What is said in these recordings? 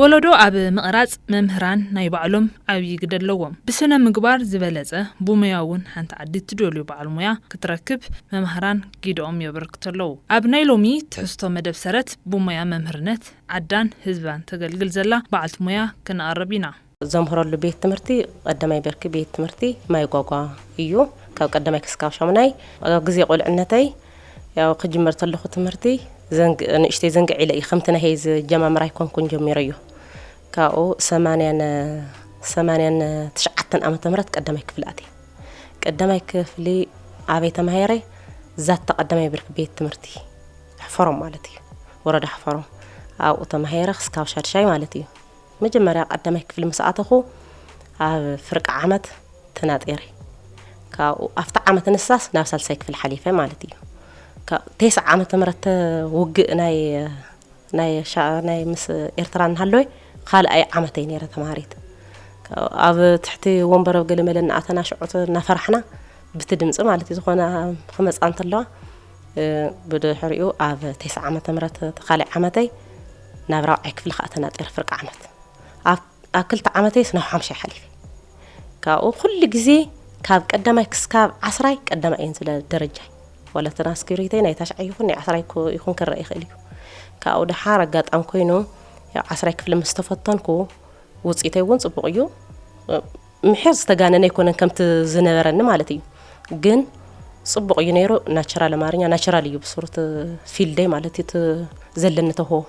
ወለዶ ኣብ ምቕራፅ መምህራን ናይ ባዕሎም ዓብዪ ግደ ኣለዎም። ብስነ ምግባር ዝበለፀ ብሙያ እውን ሓንቲ ዓዲ እትደልዩ በዓል ሙያ ክትረክብ መምሃራን ጊደኦም የበርክቱ ኣለዉ። ኣብ ናይ ሎሚ ትሕዝቶ መደብ ሰረት ብሙያ መምህርነት ዓዳን ህዝባን ተገልግል ዘላ በዓልቲ ሞያ ክንኣረብ ኢና። ዘምህረሉ ቤት ትምህርቲ ቐዳማይ ብርኪ ቤት ትምህርቲ ማይ ጓጓ እዩ። ካብ ቀዳማይ ክስካብ ሻሙናይ ኣብ ግዜ ቁልዕነተይ ያው ክጅምር ተለኹ ትምህርቲ ዘንግ ንእሽተይ ዘንግዕ ኢለ እዩ ከምቲ ናይ ሄዚ ጀማምር ኣይኮንኩን ጀሚረዮ ካብኡ ሰማንያን ሰማንያን ትሽዓተን ዓመተ ምህረት ቀዳማይ ክፍሊ ኣትየ ቀዳማይ ክፍሊ ዓበይ ተማሂረ ዛታ ቀዳማይ ብርኪ ቤት ትምህርቲ ሕፈሮም ማለት እዩ ወረዳ ሕፈሮም ኣብኡ ተማሂረ ክስካብ ሻድሻይ ማለት እዩ መጀመርያ ቀዳማይ ክፍሊ ምስ ኣተኹ ኣብ ፍርቂ ዓመት ተናጢረ ካብኡ ኣብቲ ዓመት ንሳስ ናብ ሳልሳይ ክፍሊ ሓሊፈ ማለት እዩ ቴስዓ ዓመተ ምህረት ውግእ ናይ ናይ ናይ ምስ ኤርትራ እናሃለወ ካልኣይ ዓመተይ ነይረ ተማሃሪት ኣብ ትሕቲ ወንበር ኣብ ገለመለ እናኣተና ሽዑት እናፈራሕና ብቲ ድምፂ ማለት እዩ ዝኾነ ክመፃ እንተለዋ ብድሕሪኡ ኣብ ቴስዓ ዓመተ ምህረት እቲ ካልእ ዓመተይ ናብ ራብዓይ ክፍሊ ከዓ ተናጢረ ፍርቂ ዓመት ኣብ ክልተ ዓመተይስ ናብ ሓምሻይ ሓሊፈ ካብኡ ኩሉ ግዜ ካብ ቀዳማይ ክስካብ ዓስራይ ቀዳማይ እየን ዝለ ደረጃይ ዋላ ትራንስክሪተይ ናይ ታሽዓይ ይኹን ናይ ዓስራይ ይኹን ክረአ ይኽእል እዩ ካብኡ ድሓር ኣጋጣሚ ኮይኑ ዓስራይ ክፍሊ ምስ ተፈተንኩ ውፅኢተይ እውን ፅቡቕ እዩ ምሒር ዝተጋነነ ኣይኮነን ከምቲ ዝነበረኒ ማለት እዩ ግን ፅቡቅ እዩ ነይሩ ናቸራል ኣማርኛ ናቸራል እዩ ብስሩ እቲ ፊልደይ ማለት እዩ እቲ ዘለኒ ተሆ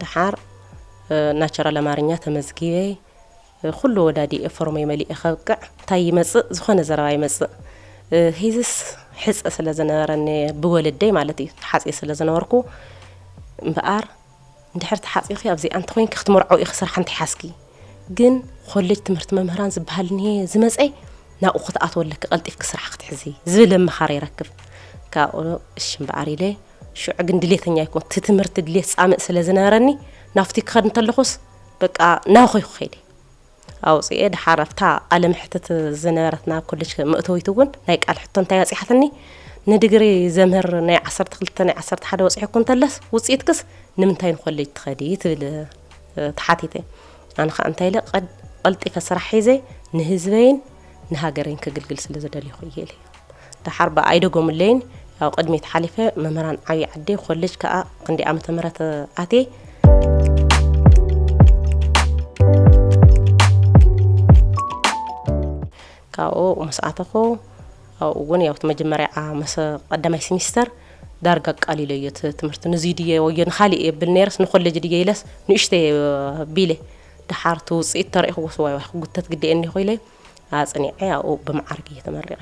ድሓር ናቸራል ኣማርኛ ተመዝጊበ ኩሉ ወዳዲኤ ፎርመይ መሊኤ ከብቅዕ እንታይ ይመፅእ ዝኾነ ዘረባ ይመፅእ ሂዝስ ሕፀ ስለ ዝነበረኒ ብወለደይ ማለት እዩ ሓፂ ስለ ዝነበርኩ እምበኣር እንድሕር ተሓጺኺ ኣብዚኣ እንተኾይንኪ ክትመርዖው ኢኺ ስራሕ እንተሓዝኪ ግን ኮሌጅ ትምህርቲ መምህራን ዝበሃል እንሄ ዝመጸ ናብኡ ክትኣትዎ ኣለኪ ቀልጢፍኪ ስራሕ ክትሕዚ ዝብል ኣመኻሪ ይረክብ ካብኡ እሺ እምበኣር ኢለ ሽዑ ግን ድሌተኛ ይኮን እቲ ትምህርቲ ድሌት ጻምእ ስለ ዝነበረኒ ናብቲ ክኸድ እንተለኹስ በቃ ናብኺ ክኸይደ ኣውጺኤ ድሓር ኣብታ ቃለ መሕትት ዝነበረትና ኮሌጅ መእተዊት እውን ናይ ቃል ሕቶ እንታይ ኣጽሓትኒ ንድግሪ ዘምህር ናይ ዓሰርተ ክልተ ናይ ዓሰርተ ሓደ ወጽሐኩ እንተለስ ውጽኢትክስ ንምንታይ ንኮሌጅ ትኸዲ ትብል ተሓቲተ ኣነ ከዓ እንታይ ኢለ ቀልጢፈ ስራሕ ሒዘ ንህዝበይን ንሃገረይን ክግልግል ስለ ዝደልኹ እየ ኢለ ደሓር ብኣ ኣይደገሙለይን ያው ቅድሚት ሓሊፈ መምህራን ዓብዪ ዓዲ ኮሌጅ ከዓ ክንደይ ዓመተ ምህረት ኣትየ ካብኡ ምስ ኣተኹ ኣብኡ እውን ያው መጀመርያ መስ ቀዳማይ ሲሚስተር ዳርጋ ኣቃሊለ እዮ ትምህርቲ ንዚ ድየ ወዮ ንካሊእ የብል ነርስ ንኮሌጅ ድየ ኢለስ ንእሽተ ቢለ ድሓር እቲ ውፅኢት ተሪእኹ ወስዋይ ክጉተት ግዲ እኒኹ ኢለ ኣፅኒዐ ኣብኡ ብመዓርግ እየ ተመሪቐ።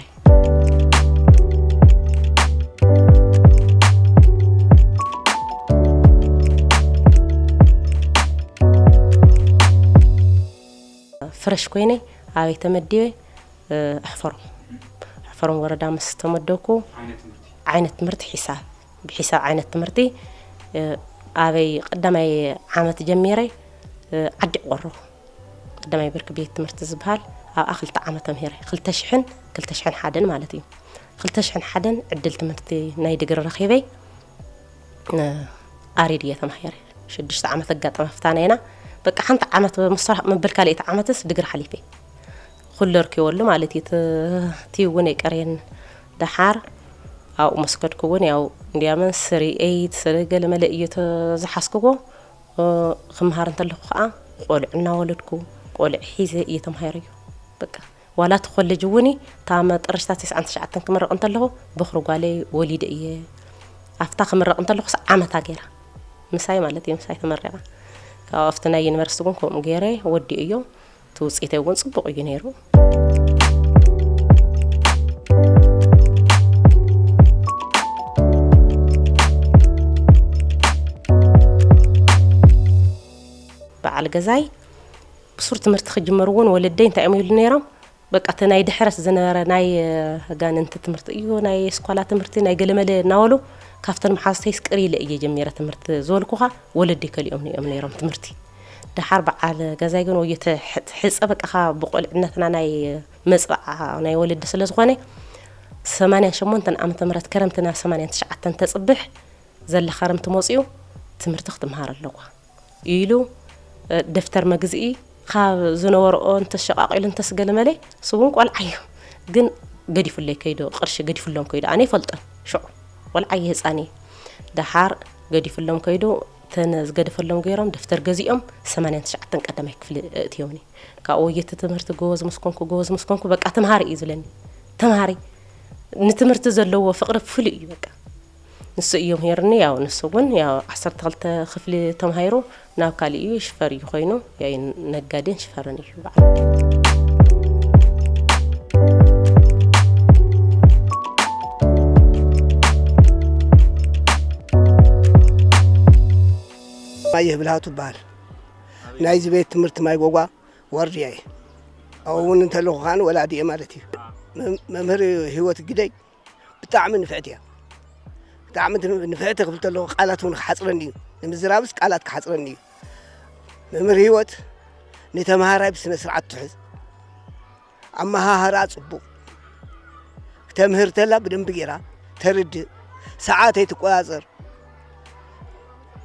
ፍረሽ ኮይነ ኣበይ ተመዲበ ኣሕፈሮም ኣሕፈሮም ወረዳ ምስ ተመደብኩ ዓይነት ትምህርቲ ሒሳብ ብሒሳብ ዓይነት ትምህርቲ ኣበይ ቀዳማይ ዓመት ጀሚረ ዓዲ ቆሮ ቀዳማይ ብርኪ ቤት ትምህርቲ ዝበሃል ኣብኣ ክልተ ዓመት ተምሂረ ክልተ ሽሕን ክልተ ሽሕን ሓደን ማለት እዩ ክልተ ሽሕን ሓደን ዕድል ትምህርቲ ናይ ድግሪ ረኺበ ኣሪድ እየ ተማሂረ ሽዱሽተ ዓመት ኣጋጠመ ፍታነና በቃ ሓንቲ ዓመት ምስራሕ መበል ካልኤቲ ዓመትስ ድግሪ ሓሊፈ ኩሉ ርኪበሉ ማለት እዩ እቲ እውን የቀርየን ደሓር ኣብኡ መስከድኩ እውን ያው እንዲያመን ስሪ ኤይት ስሪ ገለመለ እዩ ዝሓስክዎ ክምሃር እንተለኹ ከኣ ቆልዑ እናወለድኩ ቆልዑ ሒዘ እየ ተማሂረዮ በቃ ዋላ እቲ ኮሌጅ እውን እታ መጠረሽታ ትስዓን ትሽዓተን ክምረቕ እንተለኹ በኽሪ ጓለይ ወሊደ እየ ኣብታ ክምረቕ እንተለኹስ ዓመታ ገይራ ምሳይ ማለት እዩ ምሳይ ተመሪቓ ካብኡ ኣብቲ ናይ ዩኒቨርሲቲ እውን ከምኡ ገይረ ወዲኦ እዮ እቲ ውፅኢተይ እውን ፅቡቕ እዩ ነይሩ። በዓል ገዛይ ብሱር ትምህርቲ ክጅመር እውን ወለደይ እንታይ እዮም ይብሉ ነይሮም በቃ እቲ ናይ ድሕረት ዝነበረ ናይ ኣጋንንቲ ትምህርቲ እዩ ናይ ስኳላ ትምህርቲ ናይ ገለመለ እናበሉ ካብተን መሓዝተይስ ቅር ኢለ እየ ጀሚረ ትምህርቲ ዝበልኩኻ ወለደይ ከሊኦም እዮም ነይሮም ትምህርቲ ደሓር በዓል ገዛይ ግን ወዮ ተሕጸ በቃ ካብ ብቁልዕነትና ናይ መጽብዓ ናይ ወለዲ ስለ ዝኾነ ሰማንያን ሸሞንተን ዓመተ ምህረት ከረምቲ ናብ ሰማንያን ትሽዓተን ተጽብሕ ዘለ ከረምቲ መጽኡ ትምህርቲ ክትምሃር ኣለዋ ኢሉ ደፍተር መግዝኢ ካብ ዝነበረኦ እንተሸቃቂሉ እንተስገለመለ ስውን ቆልዓ እዩ ግን ገዲፉለይ ከይዶ ቅርሺ ገዲፉሎም ከይዶ ኣነ ይፈልጦን ሽዑ ቆልዓ እዩ ህፃን እዩ ደሓር ገዲፉሎም ከይዶ እተን ዝገደፈሎም ገይሮም ደፍተር ገዚኦም ሰማንያን ትሽዓተን ቀዳማይ ክፍሊ እእትዮኒ ካብኡ ወየቲ ትምህርቲ ጎበዝ ምስ ኮንኩ ጎበዝ ምስ ኮንኩ በቃ ተምሃሪ እዩ ዝብለኒ ተምሃሪ ንትምህርቲ ዘለዎ ፍቅሪ ፍሉይ እዩ በቃ ንሱ እዩ ምሂርኒ ያው ንሱ እውን ያው ዓሰርተ ክልተ ክፍሊ ተማሂሩ ናብ ካሊእ እዩ ሽፈር እዩ ኮይኑ ያይ ነጋዴን ሽፈርን እዩ ባየህ ብልሃቱ ይበሃል ናይዚ ቤት ትምህርቲ ማይ ጎጓ ወርድያ እየ ኣብኡ እውን እንተለኹ ከዓ ወላዲ እየ ማለት እዩ መምህር ህይወት ግደይ ብጣዕሚ ንፍዕቲ እያ ብጣዕሚ ንፍዕቲ ክብል ተለኹ ቃላት እውን ክሓፅረኒ እዩ ንምዝራብስ ቃላት ክሓፅረኒ እዩ መምህር ህይወት ንተምሃራይ ብስነ ስርዓት ትሕዝ ኣመሃህራ ፅቡቕ ተምህር ተላ ብደንቢ ጌራ ተርድእ ሰዓት ኣይትቆፃፀር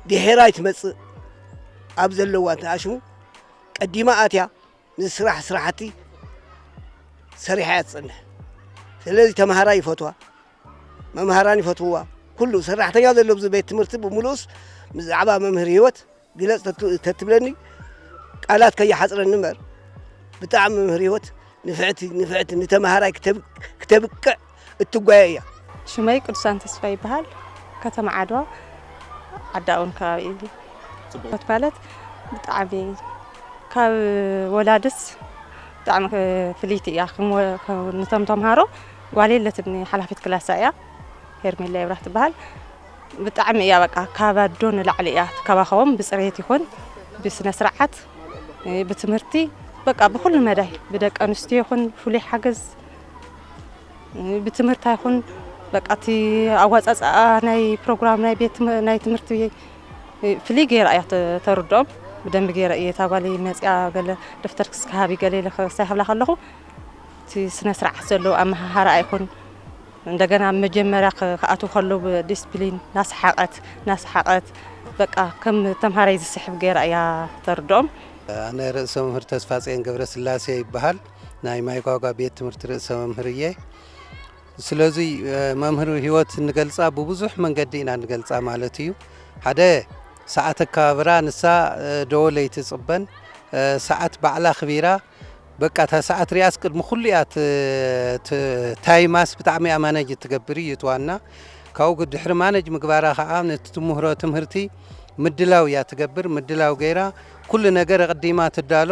ድሒራ ኣይትመፅእ ኣብ ዘለዋ ተኣሽሙ ቀዲማ ኣትያ ንዝስራሕ ስራሕቲ ሰሪሓ እያ ትፀንሕ። ስለዚ ተምሃራይ ይፈትዋ፣ መምሃራን ይፈትውዋ፣ ኩሉ ሰራሕተኛ ዘሎ ኣብዚ ቤት ትምህርቲ ብምሉኡስ ብዛዕባ መምህር ህይወት ግለፅ ተትብለኒ ቃላት ከይሓፅረኒ እምበር ብጣዕሚ መምህር ህይወት ንፍዕቲ ንፍዕቲ ንተምሃራይ ክተብቅዕ እትጓየ እያ። ሽመይ ቅዱሳን ተስፋይ ይበሃል ከተማ ዓድዋ ዓዲ ኣውን ከባቢ እዩ ጽቡቅ ማለት ብጣዕሚ ካብ ወላድስ ብጣዕሚ ፍልይቲ እያ ንቶም ተምሃሮ ጓል የለትኒ ሓላፊት ክላሳ እያ ሄርሜላ ይብራህ ትበሃል ብጣዕሚ እያ በቃ ካብ ኣዶ ንላዕሊ እያ ትከባኸቦም ብፅሬት ይኹን ብስነ ስርዓት ብትምህርቲ በቃ ብኩሉ መዳይ ብደቂ ኣንስትዮ ይኹን ፍሉይ ሓገዝ ብትምህርቲ ኣይኹን በቃ እቲ ኣዋፃፅኣ ናይ ፕሮግራም ናይ ቤት ናይ ትምህርቲ ፍልይ ገይራ እያ ተርድኦም ብደንቢ ገይረ እየ እታ ጓለይ መፅያ ገለ ደፍተር ክስካሃቢ ገለ ኢለ ክሳይሃብላ ከለኹ እቲ ስነ ስርዓት ዘለዎ ኣመሃሃራ ኣይኹን እንደገና መጀመሪያ ክኣትው ከሎ ብዲስፕሊን ናሰሓቐት ናሰሓቐት በቃ ከም ተምሃራይ ዝስሕብ ገይራ እያ ተርድኦም ኣነ ርእሰ መምህር ተስፋ ጽዮን ገብረ ስላሴ ይበሃል ናይ ማይጓጓ ቤት ትምህርቲ ርእሰ መምህር እየ ስለዚ መምህር ህይወት እንገልፃ ብብዙሕ መንገዲ ኢና ንገልፃ ማለት እዩ ሓደ ሰዓት ኣከባብራ ንሳ ደወለ ይትፅበን ሰዓት ባዕላ ክቢራ በቃ እታ ሰዓት ሪያስ ቅድሚ ኩሉ እያ ታይማስ ብጣዕሚ እያ ማነጅ እትገብር እዩ ትዋና ካብኡ ድሕሪ ማነጅ ምግባራ ከዓ ነቲ ትምህሮ ትምህርቲ ምድላው እያ ትገብር ምድላው ገይራ ኩሉ ነገር ኣቕዲማ ትዳሎ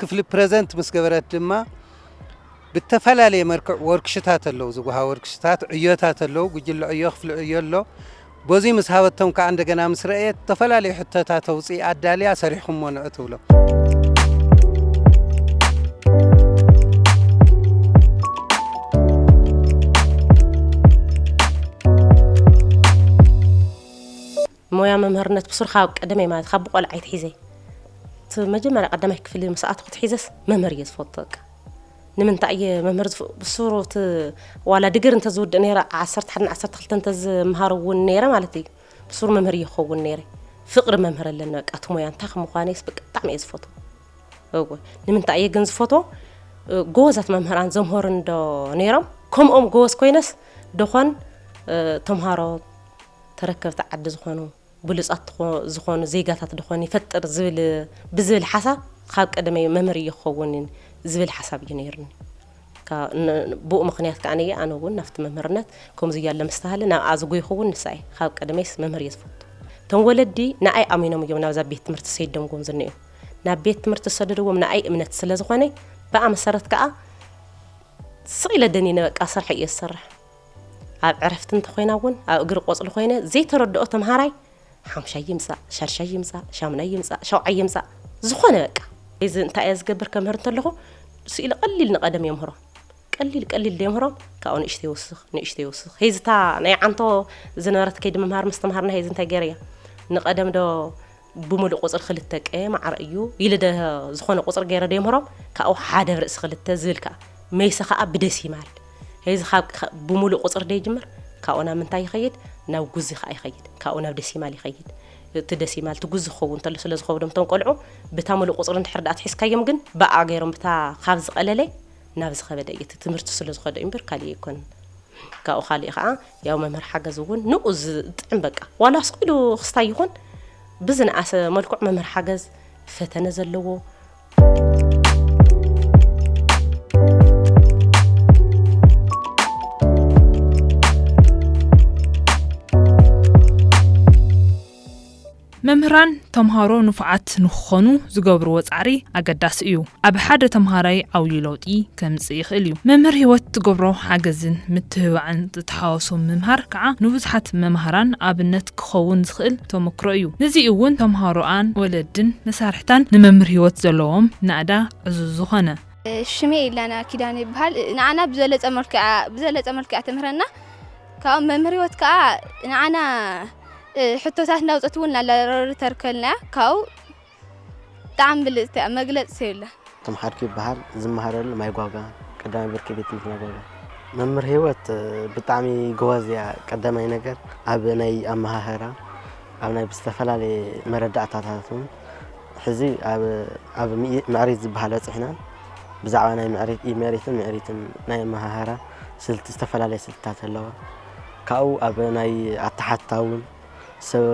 ክፍሊ ፕረዘንት ምስ ገበረት ድማ ብተፈላለየ መርክዕ ወርክሽታት ኣለዉ ዝጉሃ ወርክሽታት ዕዮታት ኣለዉ ጉጅለ ዕዮ ክፍሊ ዕዮ ኣሎ በዙይ ምስ ሃበቶም ከዓ እንደገና ምስ ረእየት ዝተፈላለዩ ሕቶታት ኣውፅኢ ኣዳልያ ሰሪሕኹሞ ንዑ ትብሎ ሞያ መምህርነት ብሱርካ ኣብ ቀደመይ ማለት ካብ ብቆልዓ ይትሒዘ እቲ መጀመርያ ቀዳማይ ክፍሊ ምስ ኣተኹ ትሒዘስ መምህር እየ ዝፈቱ በቃ ንምንታይ እየ መምህር ብሱሩ እቲ ዋላ ድግር እንተዝውድእ ነይረ ዓሰርተ ሓደን ዓሰርተ ክልተ እንተዝምሃር እውን ነይረ ማለት እዩ ብሱሩ መምህር እየ ክኸውን ነይረ ፍቅሪ መምህር ኣለኒ በቃ እቲ ሞያ እንታይ ከምኳነስ በቃ ብጣዕሚ እየ ዝፈቱ እወ ንምንታይ እየ ግን ዝፈቶ ጎበዛት መምህራን ዘምህሩ እንዶ ነይሮም ከምኦም ጎበዝ ኮይነስ ደኾን ተምሃሮ ተረከብቲ ዓዲ ዝኾኑ ብሉፃት ዝኾኑ ዜጋታት ደኾን ይፈጥር ዝብል ብዝብል ሓሳብ ኻብ ቀደመይ መምህር እየ ክኸውን ዝብል ሓሳብ እዩ ነይሩኒ ብኡ ምክንያት ከዓ ነየ ኣነ እውን ናብቲ መምህርነት ከምዚ እያለ ምስተሃለ ናብኣ ዝጎይኹ እውን ንሳ እየ ካብ ቀደመይስ መምህር እየ ዝፈቱ እቶም ወለዲ ንኣይ ኣሚኖም እዮም ናብዛ ቤት ትምህርቲ ሰይደምዎም ዝንእዩ ናብ ቤት ትምህርቲ ዝሰደድዎም ንኣይ እምነት ስለ ዝኾነ ብኣ መሰረት ከዓ ስቕ ኢለ ደኒነ በቃ ስራሕ እየ ዝሰርሕ ኣብ ዕረፍቲ እንተኾይና እውን ኣብ እግሪ ቆፅሊ ኮይነ ዘይተረድኦ ተምሃራይ ሓምሻይ ይምፃእ ሻድሻይ ይምፃእ ሻምናይ ይምፃእ ሸውዓይ ይምፃእ ዝኾነ በቃ እዚ እንታይ እየ ዝገብር ከምህር እንተለኹ ስኢሊ ቀሊል ንቐደም የምህሮም ቀሊል ቀሊል ደምህሮም ካብኡ ንእሽተ ይውስኽ ንእሽተ ይውስኽ ሄዝታ ናይ ዓንቶ ዝነበረት ከይዲ ምምሃር ምስትምሃርና ሄዚ እንታይ ገይረ እያ ንቐደም ዶ ብምሉእ ቁጽሪ ክልተ ቀየ ማዕረ እዩ ኢሊ ደ ዝኾነ ቁጽሪ ገይረ ደምህሮም ካብኡ ሓደ ብ ርእሲ ክልተ ዝብል ከኣ መይሰ ከኣ ብደሲማል ሄዚ ካብ ብምሉእ ቁጽሪ ደይጅምር ካብኡ ናብ ምንታይ ይኸይድ ናብ ጉዚ ከኣ ይኸይድ ካብኡ ናብ ደሲማል ይኸይድ እቲ ደሲማል እቲ ጉዚ ክኸውን ተሎ ስለ ዝኸብዶም እቶም ቆልዑ ብታ ምሉእ ቁጽሪ እንድሕር ደኣ ኣትሒዝካዮም ግን ብኣ ገይሮም ብታ ካብ ዝቐለለ ናብ ዝኸበደ እዩ እቲ ትምህርቲ ስለ ዝኸደ እዩ እምበር ካልእ ኣይኮነን ካብኡ ካልእ ከኣ ያው መምህር ሓገዝ እውን ንኡ ዝጥዕም በቃ ዋላ ስኢሉ ክስታይ ይኹን ብዝነኣሰ መልክዑ መምህር ሓገዝ ፈተነ ዘለዎ መምህራን ተምሃሮ ንፉዓት ንክኾኑ ዝገብርዎ ፃዕሪ ኣገዳሲ እዩ። ኣብ ሓደ ተምሃራይ ዓውዪ ለውጢ ከምፅእ ይኽእል እዩ። መምህር ህይወት ትገብሮ ሓገዝን ምትብባዕን ዝተሓዋወሶ ምምሃር ከዓ ንብዙሓት መማህራን ኣብነት ክኸውን ዝኽእል ተሞክሮ እዩ። ንዙይ እውን ተምሃሮኣን፣ ወለድን መሳርሕታን ንመምህር ህይወት ዘለዎም ናእዳ ዕዙዝ ዝኾነ። ሽመይ ኢላና ኪዳነ ይበሃል ንዓና ብዘለፀ መልክዕ ብዘለፀ መልክዕ ትምህረና። ካብኡ መምህር ህይወት ከኣ ንዓና ሕቶታት እንዳውፀት እውን ኣላረሪ ተርከልናያ ካብኡ ብጣዕሚ ብልፅቲ እያ መግለፂ የብላ እቶም ሓድኪ ይበሃል ዝመሃረሉ ማይጓጋ ቀዳማይ ብርኪ ቤት ትምህርቲ ማይጓጋ መምህር ህይወት ብጣዕሚ ጎበዝ እያ ቀዳማይ ነገር ኣብ ናይ ኣመሃህራ ኣብ ናይ ዝተፈላለየ መረዳእታታት እውን ሕዚ ኣብ ምዕሪት ዝበሃል በፂሕና ብዛዕባ ናይ ምዕሪት ኢመሪትን ምዕሪትን ናይ ኣመሃህራ ስልቲ ዝተፈላለየ ስልትታት ኣለዋ ካብኡ ኣብ ናይ ኣተሓትታ እውን ሰብ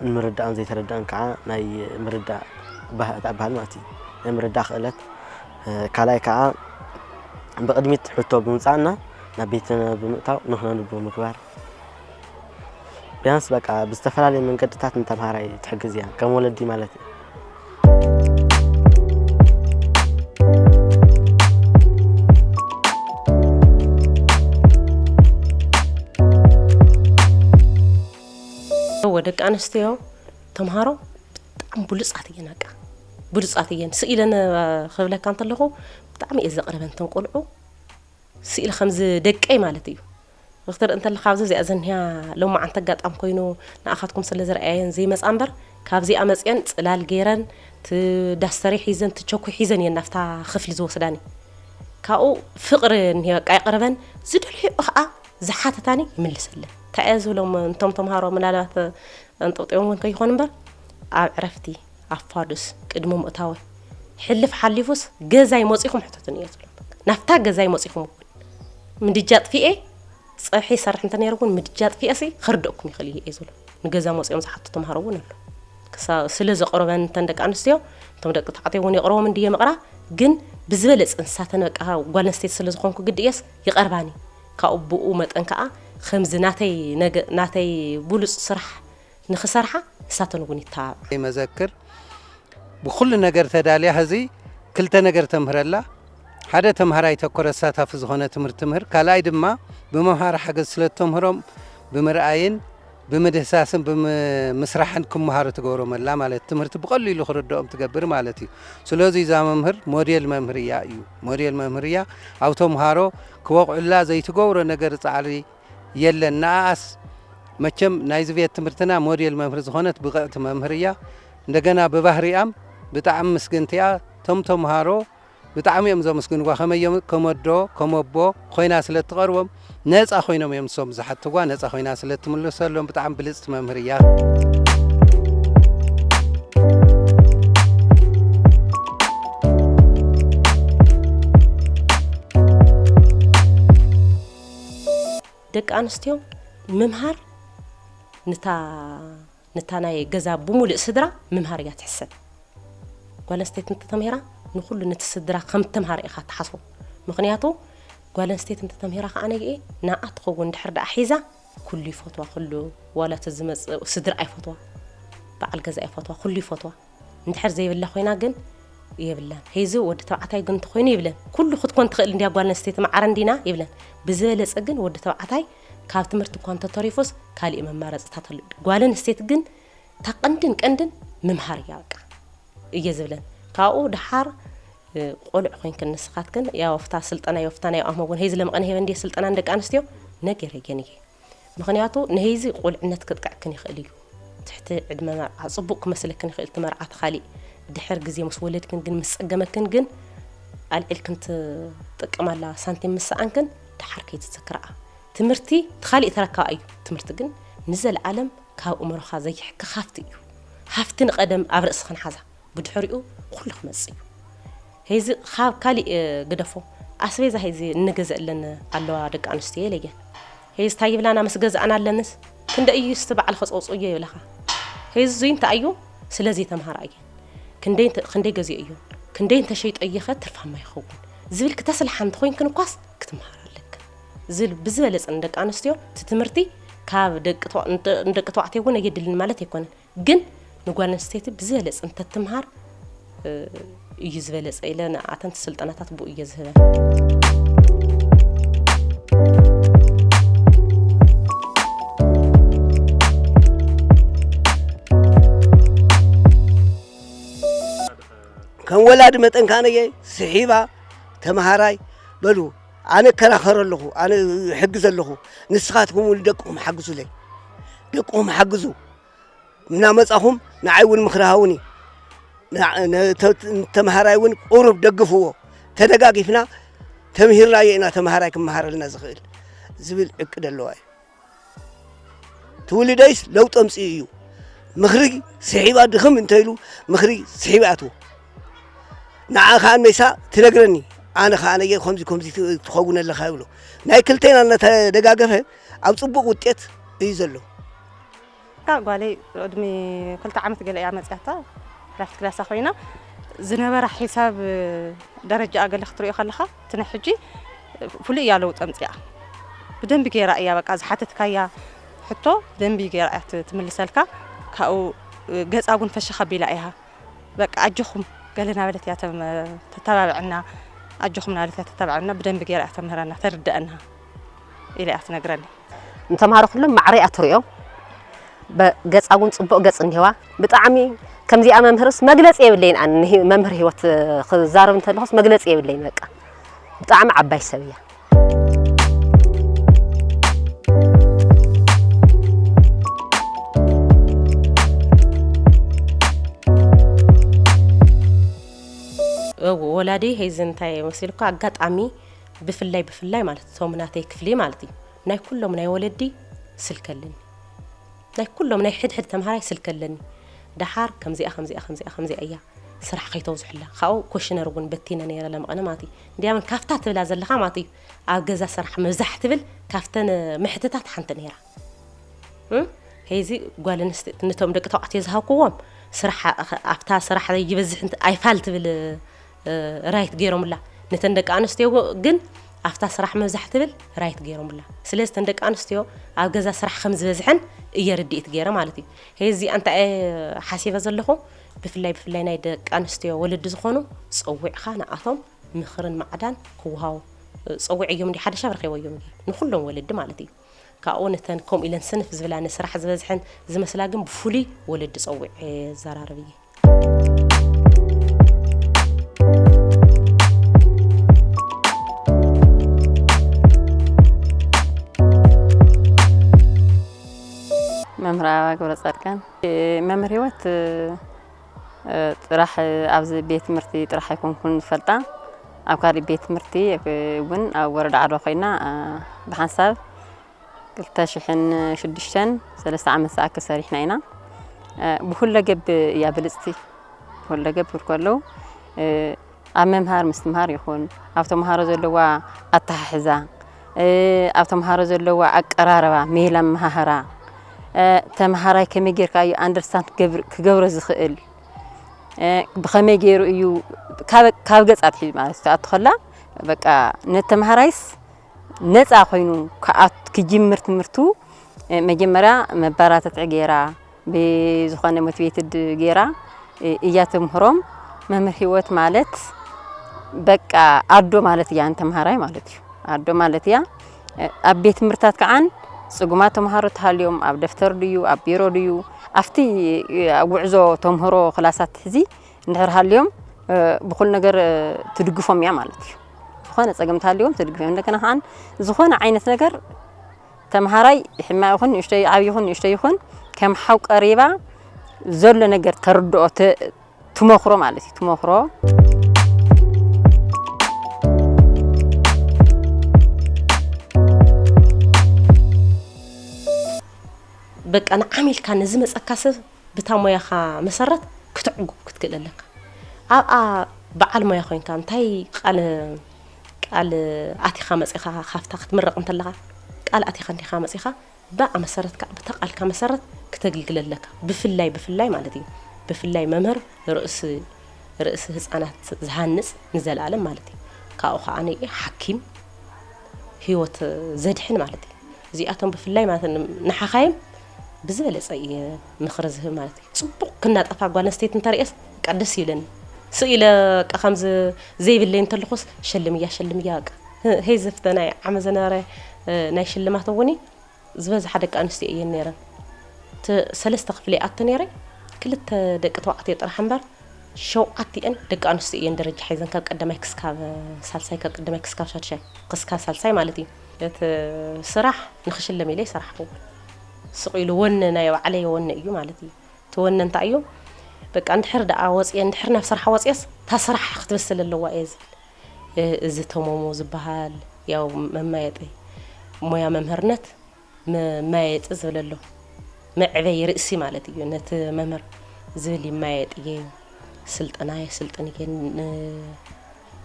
ንምርዳእን ዘይተረዳእን ከዓ ናይ ምርዳእ ባህእታ ዝበሃል ማለት እዩ ናይ ምርዳእ ክእለት ካልኣይ ከዓ ብቕድሚት ሕቶ ብምምፃእና ናብ ቤትና ብምእታው ንክነንብብ ምግባር ቢያንስ በቃ ብዝተፈላለየ መንገድታት ንተምሃራይ ትሕግዝ እያ ከም ወለዲ ማለት እዩ ደቂ ኣንስትዮ ተምሃሮ ብጣዕሚ ብሉፃት እየን ኣቃ ብሉፃት እየን ስእ ኢለን ክብለካ እንተለኹ ብጣዕሚ እየ ዘቕርበን ተን ቆልዑ ስኢል ከምዚ ደቀይ ማለት እዩ ክትርኢ እንተለኻ ኣብዚ እዚኣ ዝኒሃ ሎማዓንቲ ኣጋጣሚ ኮይኑ ንኣኻትኩም ስለ ዝርኣየን ዘይመጻ እምበር ካብዚኣ መጺኤን ጽላል ገይረን እቲ ዳስተሪ ሒዘን እቲ ቸኩ ሒዘን እየን ናብታ ክፍሊ ዝወስዳኒ ካብኡ ፍቕሪ እኒሄ በቃ የቕርበን ዝደልሕኦ ከዓ ዝሓተታኒ ይምልሰለን እንታይ እየ ዝብሎም እንቶም ተምሃሮ ምናልባት ኣንጠውጢቦም እውን ከይኾኑ እምበር ኣብ ዕረፍቲ ኣፋዱስ ቅድሚ ምእታወይ ሕልፍ ሓሊፉስ ገዛይ መፂኹም ሕተቱኒ እየ ዝብሎም ናብታ ገዛይ መፂኹም እውን ምድጃ ኣጥፊኤ ፀብሒ ይሰርሕ እንተነይረ እውን ምድጃ ኣጥፊኤሲ ክርደኩም ይኽእል እየ ዝብሎ ንገዛ መፂኦም ዝሓቱ ተምሃሮ እውን ኣሎ ስለ ዘቕርበን እተን ደቂ ኣንስትዮ እቶም ደቂ ተባዕትዮ እውን የቕርቦም እንድየ መቕራ ግን ብዝበለፅ እንሳተን በቃ ጓል ኣንስተይቲ ስለ ዝኾንኩ ግዲ እየስ ይቐርባኒ ካብኡ ብኡ መጠን ከዓ ከምዚ ናተይ ናተይ ብሉፅ ስራሕ ንክሰርሓ ንሳተን እውን ይተባብዓ። መዘክር ብኩሉ ነገር ተዳልያ ሀዚ ክልተ ነገር ተምህር ኣላ። ሓደ ተምሃራይ ተኮር ኣሳታፊ ዝኾነ ትምህርት ትምህር። ካልኣይ ድማ ብመምሃሪ ሓገዝ ስለ እተምህሮም ብምርኣይን ብምድህሳስን ብምስራሕን ክመሃሩ ትገብሮም ኣላ ማለት ትምህርቲ ብቐሊሉ ክርድኦም ትገብር ማለት እዩ። ስለዚ እዛ መምህር ሞዴል መምህር እያ እዩ ሞዴል መምህር እያ ኣብ ተምሃሮ ክበቕዑላ ዘይትገብሮ ነገር ፃዕሪ የለን ንኣኣስ መቸም ናይዚ ቤት ትምህርትና ሞዴል መምህር ዝኾነት ብቕዕቲ መምህር እያ እንደገና ብባህሪኣም ብጣዕሚ ምስግንቲ እያ እቶም ተምሃሮ ብጣዕሚ እዮም ዘመስግንዋ ከመይ እዮም ከመዶ ከመቦ ኮይና ስለ እትቐርቦም ነፃ ኮይኖም እዮም ንሶም ዝሓትዋ ነፃ ኮይና ስለ እትምልሰሎም ብጣዕሚ ብልፅቲ መምህር እያ ደቂ ኣንስትዮ ምምሃር ንታ ናይ ገዛ ብሙሉእ ስድራ ምምሃር እያ ትሕሰብ ጓል ኣንስተይቲ እንተተምሂራ ንኩሉ ነቲ ስድራ ከም እተምሃረ ኢኻ ትሓስቦ ምክንያቱ ጓል ኣንስተይቲ እንተተምሂራ ከዓ ነግኤ ንኣ ትኸውን ድሕር ደኣ ሒዛ ኩሉ ይፈትዋ ኩሉ ዋላ እቲ ዝመፅእ ስድራ ኣይፈትዋ በዓል ገዛ ኣይፈትዋ ኩሉ ይፈትዋ እንድሕር ዘይብላ ኮይና ግን የብላን ሄዚ ወዲ ተባዕታይ ግን እንተኮይኑ ይብለን ኩሉ ክትኮን ትኽእል እንድያ ጓል ኣንስተይቲ ማዕረ እንዲና ይብለን ብዝበለፀ ግን ወዲ ተባዕታይ ካብ ትምህርቲ እኳ እንተተሪፎስ ካሊእ መማረፅታት ኣሉ ጓል ኣንስተይቲ ግን እታ ቀንድን ቀንድን ምምሃር እያ በቃ እየ ዝብለን ካብኡ ድሓር ቆልዕ ኮይንክን ንስኻትክን ያው ኣብታ ስልጠና የፍታና ያው ኣመጎን ሄዚ ለመቐነ ሄበ እንዲየ ስልጠና ንደቂ ኣንስትዮ ነገረየን እየ ምኽንያቱ ንህይዚ ቁልዕነት ክጥቅዐክን ይኽእል እዩ ትሕቲ ዕድመ መርዓ ጽቡቅ ክመስለክን ይኽእል እቲ መርዓ እቲ ካሊእ ድሕር ግዜ ምስ ወለድክን ግን ምስ ጸገመክን ግን ኣልዒልክን ትጥቀማላ ሳንቲም ምስ ሰኣንክን ደሓር ከይትዝክርኣ ትምህርቲ እቲ ካሊእ ተረካብ ኣዩ ትምህርቲ ግን ንዘለዓለም ካብ እምሮኻ ዘይሕከኽ ሃፍቲ እዩ ሃፍቲ ንቀደም ኣብ ርእስኽን ሓዛ ብድሕሪኡ ኩሉ ክመጽእ እዩ ሄዚ ካብ ካሊእ ግደፎ ኣስቤዛ ሄዚ እንገዘእለን ኣለዋ ደቂ ኣንስትዮ ኢለየን ሄዚ ታይ ይብላና ምስ ገዛእና ኣለንስ ክንደ እዩ ስቲ በዓል ከጸውጹ እዮ ይብለኻ ሄዚ ዙይ እንታይ እዩ ስለዘይ ተምሃራ እየን ክንደይ ገዚኦ እዮ ክንደይ እንተሸይጦ እየኸ ትርፋማ ይኸውን ዝብል ክተስልሓ እንተኮይንክን እኳስ ክትምሃር ኣለክን ዝብል ብዝበለጸ ንደቂ ኣንስትዮ እቲ ትምህርቲ ካብ ደቂ ተባዕትዮ እውን ኣየድልን ማለት ኣይኮነን ግን ንጓል ኣንስተይቲ ብዝበለፅ እንተትምሃር እዩ ዝበለፀ ኢለ ንኣተንቲ ስልጠናታት ብኡ እየ ዝህበን ከም ወላዲ መጠን ካነየ ስሒባ ተምሃራይ በሉ ኣነ እከራኸረ ኣለኹ ኣነ እሕግዘ ኣለኹ ንስኻትኩም እውን ደቅኹም ሓግዙለይ ደቅኹም ሓግዙ እናመጻኹም ንዓይ እውን ምኽሪ ሃቡኒ ተምሃራይ እውን ቁሩብ ደግፍዎ ተደጋጊፍና ተምሂርናዮ ኢና ተምሃራይ ክመሃረልና ዝኽእል ዝብል ዕቅድ ኣለዋ እዩ ትውልደይስ ለውጢ ኣምፅኡ እዩ ምኽሪ ስሒባ ድኽም እንተይሉ ምኽሪ ስሒባ ኣትዎ ንዓ ከዓ መይሳ ትነግረኒ ኣነ ከዓ ነየ ከምዚ ከምዚ ትኸውን ኣለኻ ይብሎ ናይ ክልተና እናተደጋገፈ ኣብ ፅቡቕ ውጤት እዩ ዘሎ እታ ጓለይ ቅድሚ ክልተ ዓመት ገለ እያ መፅያታ ፕራይቬት ክላሳ ኮይና ዝነበራ ሒሳብ ደረጃኣ ገለ ክትሪኦ ከለኻ እቲ ናይ ሕጂ ፍሉይ እያ ለውጢ ኣምፅኣ ብደንቢ ገይራ እያ በቃ ዝሓተትካያ ሕቶ ደንቢ ገይራ እያ ትምልሰልካ ካብኡ ገፃ እውን ፈሸኽ ኣቢላ እያ በቃ ኣጆኹም ገለ ናበለት እያ ተተባብዐና ኣጆኹም ናበለት እያ ተተባብዐና ብደንቢ ገይራ እያ ተምህረና ተርድአና ኢላ እያ ትነግረኒ። ንተምሃሮ ኩሎም ማዕረ እያ ትሪኦም ገጻ እውን ጽቡቅ ገጽ እኒሄዋ ብጣዕሚ ከምዚኣ መምህርስ መግለጺ የብለይን ኣነ መምህር ህይወት ክዛረብ እንተለኹስ መግለጺ የብለይን በቃ ብጣዕሚ ዓባይ ሰብ እያ ወላዲ ሄዚ እንታይ መሲልኩ ኣጋጣሚ ብፍላይ ብፍላይ ማለት እቶም ናተይ ክፍሊ ማለት እዩ ናይ ኩሎም ናይ ወለዲ ስልኪ ኣለኒ ናይ ኩሎም ናይ ሕድሕድ ተምሃራይ ስልኪ ኣለኒ ደሓር ከምዚኣ ከምዚኣ ከምዚኣ ከምዚኣ እያ ስራሕ ከይተውዝሕላ ካብኡ ኮሽነር እውን በቲነ ነይረ ለመቐነ ማለት እዩ እንዲያምን ካብታ ትብላ ዘለኻ ማለት እዩ ኣብ ገዛ ስራሕ ምብዛሕ ትብል ካብተን ምሕትታት ሓንቲ ነይራ ከይዚ ጓል ኣንስተይቲ ነቶም ደቂ ተባዕትዮ ዝሃብክዎም ስራሕ ኣብታ ስራሕ ይበዝሕ ኣይፋል ትብል ራይት ገይሮምላ ነተን ደቂ ኣንስትዮ ግን ኣብታ ስራሕ ምብዛሕ ትብል ራይት ገይሮምላ ስለዚ ተን ደቂ ኣንስትዮ ኣብ ገዛ ስራሕ ከም ዝበዝሐን እየ ርድኢት ገይረ ማለት እዩ ሄዚ እንታይ ሓሲበ ዘለኹ ብፍላይ ብፍላይ ናይ ደቂ ኣንስትዮ ወለዲ ዝኾኑ ፀዊዕኻ ንኣቶም ምኽርን ማዕዳን ክወሃቡ ፀዊዐዮም እንዲ ሓደ ሻብ ረኺበዮም ንኩሎም ወለዲ ማለት እዩ ካብኡ ነተን ከምኡ ኢለን ስንፍ ዝብላ ንስራሕ ዝበዝሐን ዝመስላ ግን ብፍሉይ ወለዲ ጸዊዐ የዘራርብ እየ። መምህር ኣበባ ገብረፃድቃን መምህር ሂወት ጥራሕ ኣብዚ ቤት ትምህርቲ ጥራሕ ኣይኮንኩን ዝፈልጣ ኣብ ካሊእ ቤት ትምህርቲ እውን ኣብ ወረዳ ዓድዋ ኮይና ብሓንሳብ ክልተ ሽሕን ሽዱሽተን ሰለስተ ዓመት ዝኣክል ሰሪሕና ኢና ብኩለገብ እያ ብልፅቲ ብኩለገብ ክብል ከለው ኣብ ምምሃር ምስትምሃር ይኹን፣ ኣብ ተምሃሮ ዘለዋ ኣተሓሕዛ፣ ኣብ ተምሃሮ ዘለዋ ኣቀራርባ፣ ሜላ ኣመሃህራ፣ ተምሃራይ ከመይ ጌርካ እዩ ኣንደርስታንድ ክገብሮ ዝኽእል፣ ብኸመይ ገይሩ እዩ ካብ ገጽ ኣትሒዙ ማለት ትኣቱ ከላ በቃ ነቲ ተምሃራይስ ነፃ ኮይኑ ክጅምር ትምህርቱ መጀመርያ መበራተትዒ ገይራ ብዝኾነ ሞቲቬትድ ጌራ እያ ተምህሮም መምህር ሂወት ማለት በቃ ኣዶ ማለት እያ ንተምሃራይ ማለት እዩ ኣዶ ማለት እያ ኣብ ቤት ትምህርታት ከዓን ፅጉማት ተምሃሮ ተሃልዮም ኣብ ደፍተር ድዩ ኣብ ቢሮ ድዩ ኣብቲ ጉዕዞ ተምህሮ ክላሳት እዚ እንድሕር ሃልዮም ብኩሉ ነገር ትድግፎም እያ ማለት እዩ ዝኾነ ፀገም ተሃልዮም ትድግፎም እንደገና ከዓን ዝኾነ ዓይነት ነገር ተምሃራይ ሕማቕ ይኹን ንእሽቶይ ዓብይ ይኹን ንእሽቶይ ይኹን ከም ሓው ቀሪባ ዘሎ ነገር ተርድኦ ትመኽሮ ማለት እዩ ትመኽሮ በቃ ንዓሚልካ ንዝመፀካ ሰብ ብታ ሞያኻ መሰረት ክትዕጉብ ክትክእል ኣለካ ኣብኣ በዓል ሞያ ኮይንካ እንታይ ቃለ ቃል ኣቲኻ መጺኻ ካብታ ክትምረቕ እንተለኻ ቃል ኣቲኻ እንዲኻ መጺኻ ብኣ መሰረት ከኣ ብታ ቃልካ መሰረት ክተግልግል ኣለካ ብፍላይ ብፍላይ ማለት እዩ ብፍላይ መምህር ርእሲ ርእሲ ህጻናት ዝሃንጽ ንዘለኣለም ማለት እዩ ካብኡ ከኣ ሓኪም ህይወት ዘድሕን ማለት እዩ እዚኣቶም ብፍላይ ማለት ንሓኻይም ብዝበለጸ እየ ምኽሪ ዝህብ ማለት እዩ ጽቡቅ ክናጠፋ ጓል ኣንስተይቲ እንተርእየስ በቃ ደስ ይብለኒ ስቅ ኢለ በቃ ከምዚ ዘይብለይ እንተለኩስ ሸልምያ ሸልምያ በቃ ሄይ ዘፍተ ናይ ዓመት ዝነበረ ናይ ሽልማት እውኒ ዝበዝሓ ደቂ ኣንስትዮ እየን ነይረን እቲ ሰለስተ ክፍሊ ኣቱ ነይረ ክልተ ደቂ ተባዕትዮ ጥራሕ እምበር ሸውዓቲኤን ደቂ ኣንስትዮ እየን ደረጃ ሓይዘን ካብ ቀዳማይ ክስካብ ሳልሳይ ካብ ቀዳማይ ክስካብ ሻድሻይ ክስካብ ሳልሳይ ማለት እዩ እቲ ስራሕ ንክሽለም ኢለ ይሰራሕኩ ስቅ ኢሉ ወነ ናይ ባዕለይ ወነ እዩ ማለት እዩ እቲ ወነ እንታይ እዩ በቃ እንድሕር ደኣ ወፅየ እንድሕር ናብ ስራሕ ወፅየስ እታ ስራሕ ክትበስል ኣለዋ እየ ዝብል እዚ ተሞሙ ዝበሃል ያው መማየጢ ሞያ መምህርነት መማየጢ ዝብል ኣሎ መዕበይ ርእሲ ማለት እዩ ነቲ መምህር ዝብል ይማየጥ እየ ስልጠና የስልጥን እየ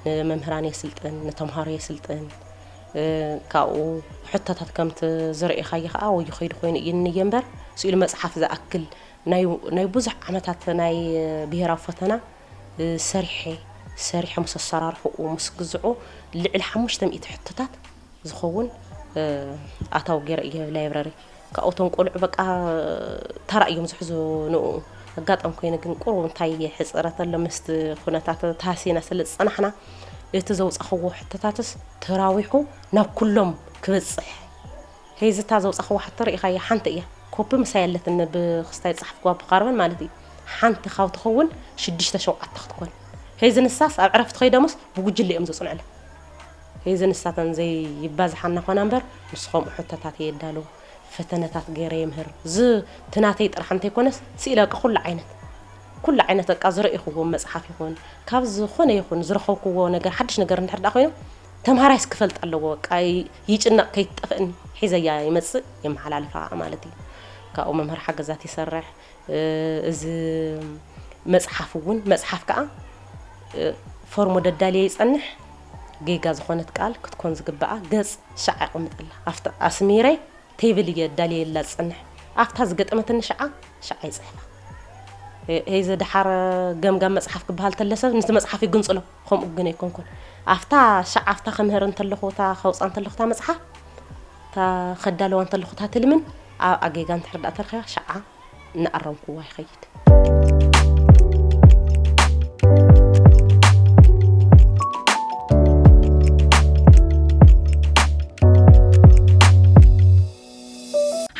ንመምህራን የስልጥን፣ ንተምሃሮ የስልጥን፣ ካብኡ ሕቶታት ከምቲ ዝረኤኻዮ ከኣ ወዮ ከይዱ ኮይኑ እዩ እንየ እምበር ስእሉ መጽሓፍ ዝኣክል ናይ ብዙሕ ዓመታት ናይ ብሄራዊ ፈተና ሰሪሐ ሰሪሐ ምስ ኣሰራርሕኡ ምስ ግዝዑ ልዕሊ ሓሙሽተ ሚእቲ ሕቶታት ዝኸውን ኣታዊ ገይረ እየ ላይብረሪ ካብኡ እቶም ቆልዑ በቃ ተራ እዮም ዝሕዙ ንኡ ኣጋጣሚ ኮይኑ ግን ቁሩብ እንታይ ሕፅረት ኣሎ ምስቲ ኩነታት ተሃሲና ስለ ዝፀናሕና እቲ ዘውፃኽዎ ሕቶታትስ ተራዊሑ ናብ ኩሎም ክበፅሕ ሄዚ እታ ዘውፃኽዎ ሕቶ ርኢኻያ ሓንቲ እያ ኮፒ ምሳይ ኣለትኒ ብክስታይ ዝፀሓፍክዋ ብካርበን ማለት እዩ ሓንቲ ካብ ትኸውን ሽዱሽተ ሸውዓተ ክትኮን ሄዚ ንሳስ ኣብ ዕረፍቲ ከይዶምስ ብጉጅለ እዮም ዘፅንዑላ ሒዚ ንሳተን ዘይባዝሓና ኾና እምበር ምስ ኸምኡ ሕቶታት እየ እዳሎ፣ ፈተነታት ገይረ የምህር፣ እዚ እቲ ናተይ ጥራሕ እንተይኮነስ ስኢለ በቃ ኩሉ ዓይነት ኩሉ ዓይነት በቃ ዝረኢኹዎ መፅሓፍ ይኹን ካብ ዝኾነ ይኹን ዝረኸብኩዎ ነገር ሓዱሽ ነገር እንድሕር ደኣ ኮይኑ ተምሃራይስ ክፈልጥ ኣለዎ በቃ ይጭነቕ ከይትጠፍእኒ ሒዘያ ይመፅእ የመሓላልፋ ማለት እዩ። ካብኡ መምህር ሓገዛት ይሰርሕ። እዚ መጽሓፍ እውን መጽሓፍ ከኣ ፎርሞ ደዳልየ ይጸንሕ ጌጋ ዝኾነት ቃል ክትኮን ዝግብኣ ገጽ ሸዓ የቐምጠላ ኣብቲ ኣስሚረ ቴብል እየ ኣዳልየላ ዝጸንሕ ኣብታ ዝገጠመትኒ ሸዓ ሸዓ ይጽሕፋ ሄዘ ደሓር ገምጋም መጽሓፍ ክበሃል ተለሰ ንቲ መጽሓፍ ይግንጽሎ ከምኡ ግን ኣይኮንኩን ኣብታ ሸዓ ኣብታ ከምህር እንተለኹ እታ ከውጻ እንተለኹ እታ መጽሓፍ እታ ከዳልዋ እንተለኹ እታ ትልምን ኣብኣ ጌጋ እንድሕር ደኣ ተረኺባ ሽዓ እናኣረምኩዋ ይኸይድ።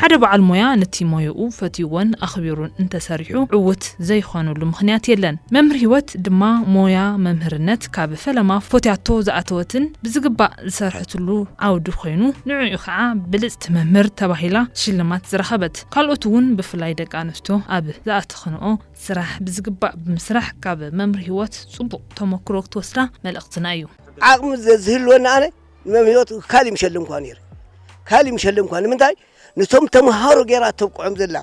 ሓደ በዓል ሞያ ነቲ ሞያኡ ፈትዩዎን ኣኽቢሩን እንተሰሪሑ ዕዉት ዘይኾነሉ ምኽንያት የለን። መምህር ህይወት ድማ ሞያ መምህርነት ካብ ፈለማ ፎትያቶ ዝኣተወትን ብዝግባእ ዝሰርሐትሉ ዓውዲ ኮይኑ ንዕዑ ከዓ ብልፅቲ መምህር ተባሂላ ሽልማት ዝረኸበት። ካልኦት እውን ብፍላይ ደቂ ኣንስትዮ ኣብ ዝኣተኽንኦ ስራሕ ብዝግባእ ብምስራሕ ካብ መምህር ህይወት ፅቡቕ ተሞክሮ ክትወስዳ መልእኽትና እዩ። ዓቕሚ ዘዝህልወኒ ኣነ ንመምህር ህይወት ካልእ ምሸለምኳ ነይረ። ካልእ ምሸለምኳ ንምንታይ ንቶም ተምሃሮ ገይራ ተብቅዖም ዘላ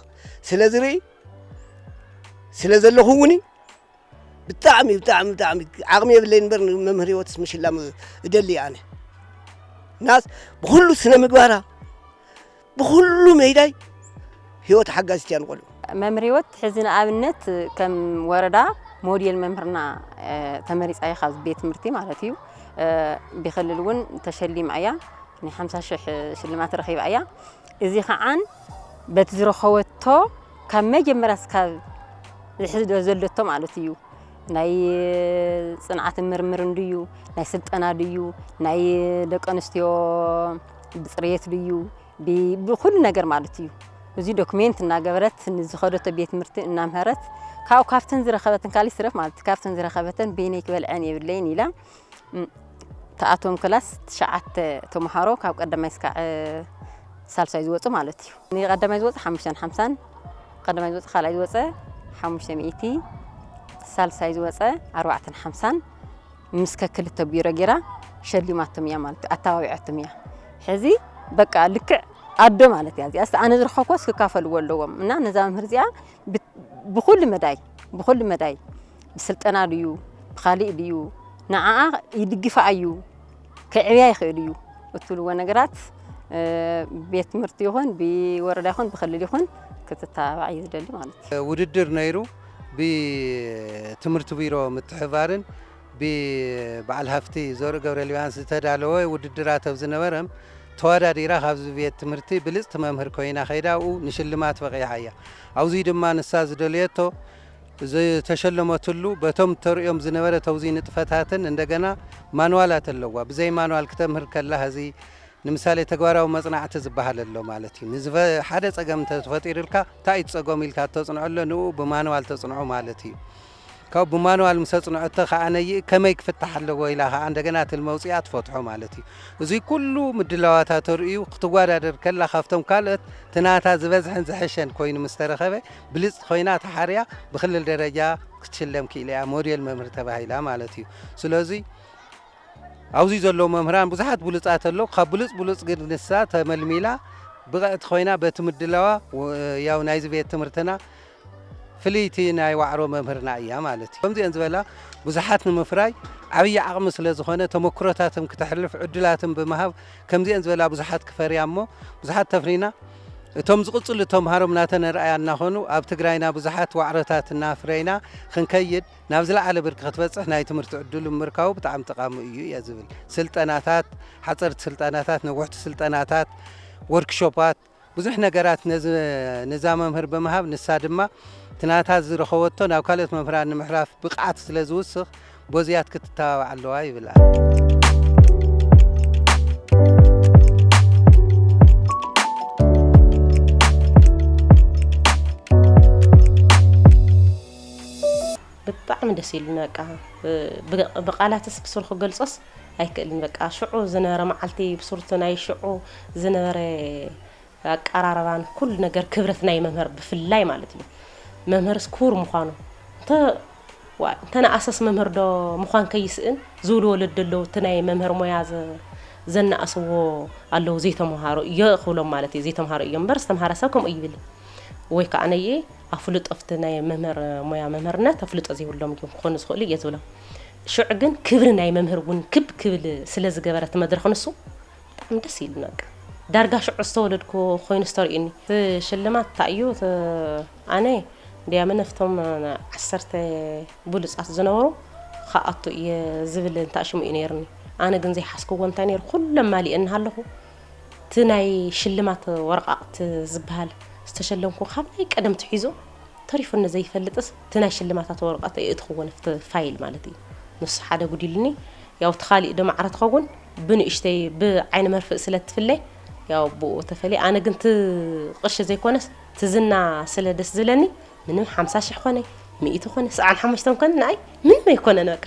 ስለዝርኢ ስለዘለኹ እውን ብጣዕሚ ብጣዕሚ ብጣዕሚ ዓቕሚ የብለይን እምበር ንመምህር ህይወትስ ምሽላም እደሊ ኣነ ናስ ብኩሉ ስነ ምግባራ ብኩሉ መይዳይ ህይወት ሓጋዚት እያ ንቆልዑ መምህር ህይወት ሕዚ ንኣብነት ከም ወረዳ ሞዴል መምህርና ተመሪፃ እያ ካብ ቤት ትምህርቲ ማለት እዩ ብክልል እውን ተሸሊማ እያ ናይ ሓምሳ ሽሕ ሽልማት ረኺባ እያ እዚ ከኣ በቲ ዝረኸበቶ ካብ መጀመርያ እስካብ ዝሕዚ ዘሎቶ ማለት እዩ ናይ ጽንዓትን ምርምርን ድዩ ናይ ስልጠና ድዩ ናይ ደቂ ኣንስትዮ ብጽርየት ድዩ ብኩሉ ነገር ማለት እዩ እዚ ዶክሜንት እናገበረት ንዝኸደቶ ቤት ትምህርቲ እናምሀረት ካብኡ ካብተን ዝረኸበተን ካልእ ይትረፍ ማለት ካብተን ዝረኸበተን በይነይ ክበልዐን የብለይን ኢላ ትኣትዎም ክላስ ትሽዓተ ተምሃሮ ካብ ቀዳማይ እስካዕ ሳልሳይ ዝወፁ ማለት እዩ። ንቀዳማይ ዝወፀ ሓሙሽተን ሓምሳን ቀዳማይ ዝወፀ ካልኣይ ዝወፀ ሓሙሽተ ሚእቲ ሳልሳይ ዝወፀ ኣርባዕተን ሓምሳን ምስ ከክልተ ቢሮ ጌራ ሸሊማቶም እያ ማለት እዩ። ኣተባቢዖቶም እያ ሕዚ በቃ ልክዕ ኣዶ ማለት እያ እዚኣ ኣነ ዝረኸብኳስ ክካፈልዎ ኣለዎም እና ነዛ መምህር እዚኣ ብኩሉ መዳይ ብኩሉ መዳይ ብስልጠና ድዩ ብኻሊእ ድዩ ንዓኣ ይድግፋ ኣዩ ከዕብያ ይኽእል እዩ እትብልዎ ነገራት ቤት ትምህርቲ ይኹን ብወረዳ ይኹን ብክልል ይኹን ክትተባባዕ እዩ ዝደሊ ማለት እዩ። ውድድር ነይሩ ብትምህርቲ ቢሮ ምትሕባርን ብበዓል ሃፍቲ ዘርኡ ገብረልዮሃንስ ዝተዳለወ ውድድራት ኣብ ዝነበረም ተወዳዲራ ካብዚ ቤት ትምህርቲ ብልፅቲ መምህር ኮይና ከይዳ ኣብኡ ንሽልማት በቒዓ እያ። ኣብዙይ ድማ ንሳ ዝደለየቶ ዝተሸለመትሉ በቶም ተርእዮም ዝነበረ ተውዚን ንጥፈታትን እንደገና ማንዋላት ኣለዋ ብዘይ ማንዋል ክተምህር ከላ ሀዚ ንምሳሌ ተግባራዊ መጽናዕቲ ዝበሃል ኣሎ ማለት እዩ ንዝፈ ሓደ ጸገም እንተ ተፈጢሩልካ እንታይ እዩ ጸገሙ ኢልካ ተጽንዐሎ ንኡ ብማንዋል ተጽንዖ ማለት እዩ ካብ ብማንዋል ምስ ኣጽንዐቶ ከዓ ነይእ ከመይ ክፍታሕ ኣለዎ ኢላ ከዓ እንደገና ትልሚ ኣውፅኣ ትፈትሖ ማለት እዩ እዚ ኩሉ ምድላዋታ ተርእዩ ክትወዳደር ከላ ካብቶም ካልኦት ትናታ ዝበዝሐን ዝሐሸን ኮይኑ ምስ ተረኸበ ብልጽቲ ኮይና ተሓርያ ብክልል ደረጃ ክትሽለም ክኢላ እያ ሞዴል መምህር ተባሂላ ማለት እዩ ስለዚ ኣብዚ ዘለዉ መምህራን ብዙሓት ብሉፃት ኣለዉ ካብ ብሉፅ ብሉፅ ግን ንሳ ተመልሚላ ብቕዕቲ ኮይና በቲ ምድላዋ ያው ናይዚ ቤት ትምህርትና ፍልይቲ ናይ ዋዕሮ መምህርና እያ ማለት እዩ ከምዚአን ዝበላ ብዙሓት ንምፍራይ ዓብዪ ዓቕሚ ስለ ዝኾነ ተመክሮታትም ክተሕልፍ ዕድላትም ብምሃብ ከምዚአን ዝበላ ብዙሓት ክፈርያ እሞ ብዙሓት ተፍሪና እቶም ዝቕፅሉ ተምሃሮም ናተነርኣያ እናኾኑ ኣብ ትግራይና ብዙሓት ዋዕሮታት እናፍረይና ኽንከይድ ናብ ዝለዓለ ብርኪ ክትበፅሕ ናይ ትምህርቲ ዕድሉ ምምርካቡ ብጣዕሚ ጠቓሚ እዩ እየ ዝብል። ስልጠናታት፣ ሓፀርቲ ስልጠናታት፣ ነውሕቲ ስልጠናታት፣ ወርክሾፓት፣ ብዙሕ ነገራት ነዚ ንዛ መምህር ብምሃብ ንሳ ድማ እቲ ናታ ዝረኸበቶ ናብ ካልኦት መምህራን ንምሕላፍ ብቕዓት ስለዝውስኽ ጎዝያት ክትተባባዕ ኣለዋ ይብል ኣሎ። ብጣዕሚ ደስ ኢሉኒ በቃ ብቃላትስ ብሱሩ ክገልጾስ ኣይክእልን በቃ ሽዑ ዝነበረ መዓልቲ ብሱርቲ ናይ ሽዑ ዝነበረ ኣቀራርባን ኩሉ ነገር ክብረት ናይ መምህር ብፍላይ ማለት እዩ መምህርስ ክቡር ምዃኑ እንተ ዋይ እንተ ንኣሰስ መምህር ዶ ምዃን ከይስእን ዝብሉ ወለዲ ኣለዉ እቲ ናይ መምህር ሞያ ዘናእስዎ ኣለዉ ዘይተምሃሩ እዮ ክብሎም ማለት እዩ ዘይተምሃሩ እዮም እምበር ዝተምሃረ ሰብ ከምኡ ይብል ወይ ከዓ ነየ ኣፍልጦ ፍቲ ናይ መምህር ሞያ መምህርነት ኣፍልጦ ዘይብሎም እዮም ክኾኑ ዝኽእሉ እየ ዝብሎም ሽዑ ግን ክብሪ ናይ መምህር እውን ክብ ክብል ስለ ዝገበረ እቲ መድረኽ ንሱ ብጣዕሚ ደስ ኢሉኒ በቃ ዳርጋ ሽዑ ዝተወለድኩ ኮይኑ ዝተርእዩኒ እቲ ሽልማት እንታይ እዩ ኣነ ድያመ ነፍቶም ዓሰርተ ብሉፃት ዝነበሩ ክኣቱ እየ ዝብል እንታይ ሽሙ እዩ ነይርኒ ኣነ ግን ዘይሓስክዎ እንታይ ነይሩ ኩሎም ማሊእ እናሃለኹ እቲ ናይ ሽልማት ወረቃቕቲ ዝበሃል ዝተሸለምኩ ካብናይ ቀደም ትሒዞ ተሪፉኒ ዘይፈልጥስ እቲ ናይ ሽልማታት ወረቐት የእትኽዎ ንፍቲ ፋይል ማለት እዩ ንሱ ሓደ ጉዲልኒ ያው እቲ ካሊእ ዶ ማዕረ ትኸውን ብንእሽተይ ብዓይኒ መርፍእ ስለ እትፍለ ያው ብኡ ተፈልየ ኣነ ግን እቲ ቅርሺ ዘይኮነስ እቲ ዝና ስለ ደስ ዝለኒ ምንም ሓምሳ ሽሕ ኮነ ሚእቲ ኮነ ሰብዓን ሓሙሽተን ኮነ ንኣይ ምንም ኣይኮነን በቃ